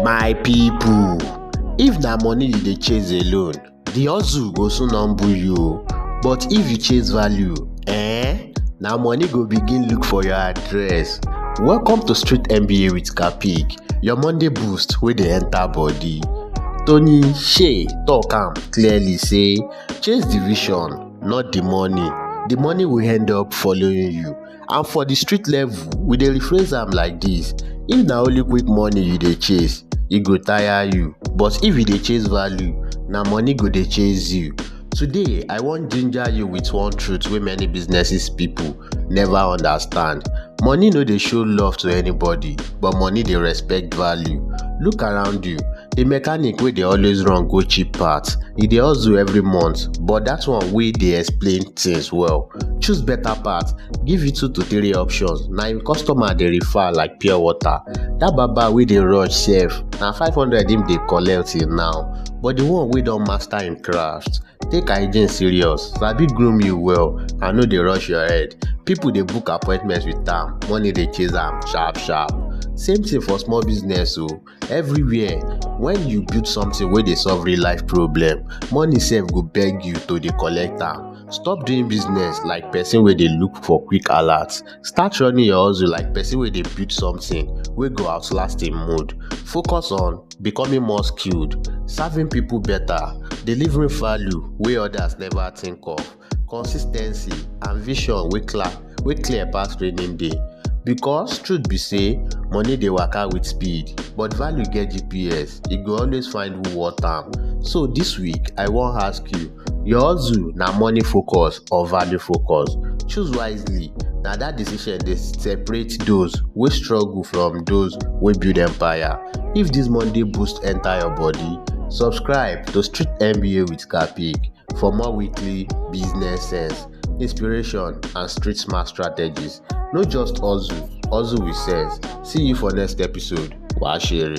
My people, if na money you dey chase alone, the hustle go soon humble you o. But if you chase value, eh, na money go begin look for your address. Welcome to Street MBA with Kapig, your Monday boost wey dey enter body. Tony Shea talk am clearly say chase the vision, not the money. The money will end up following you. And for the street level, we dey rephrase am like this. If na only quick money you dey chase, e go tire you. But if you dey chase value, na money go dey chase you. Today, I wan ginger you with one truth wey many businesses people never understand. Money no dey show love to anybody. but money dey respect value look around you the mechanic wey dey always run go cheap parts e dey hustle every month but that one wey dey explain things well choose better part give you two to three options na him customer dey refer like pure water that baba wey dey rush sef na five hundred him dey collect till now but the one wey don master him craft take hygiene serious sabi groom you well and no dey rush your head people dey book appointment with am money dey chase am sharp sharp same thing for small business o oh. everywhere when you build something wey dey solve real life problem money sef go beg you to dey collect am stop doing business like person wey dey look for quick alert Start running your hustle like person wey dey build something wey go outlast im mood. Focus on becoming more skilled, serving people better, delivering value wey others never think of, consistency and vision wey clear wey clear pass raining day. Because truth be say money dey waka with speed but value get GPS, e go always find who worth am. So this week I wan ask you Your hustle na money focus or value focus? Choose wisely, na that decision dey separate those wey struggle from those wey build empire. If this Monday boost enter your body, subscribe to Street MBA with Kapik for more weekly business sense, inspiration and street smart strategies. No just hustle, hustle with sense. See you for next episode. Wahashiri.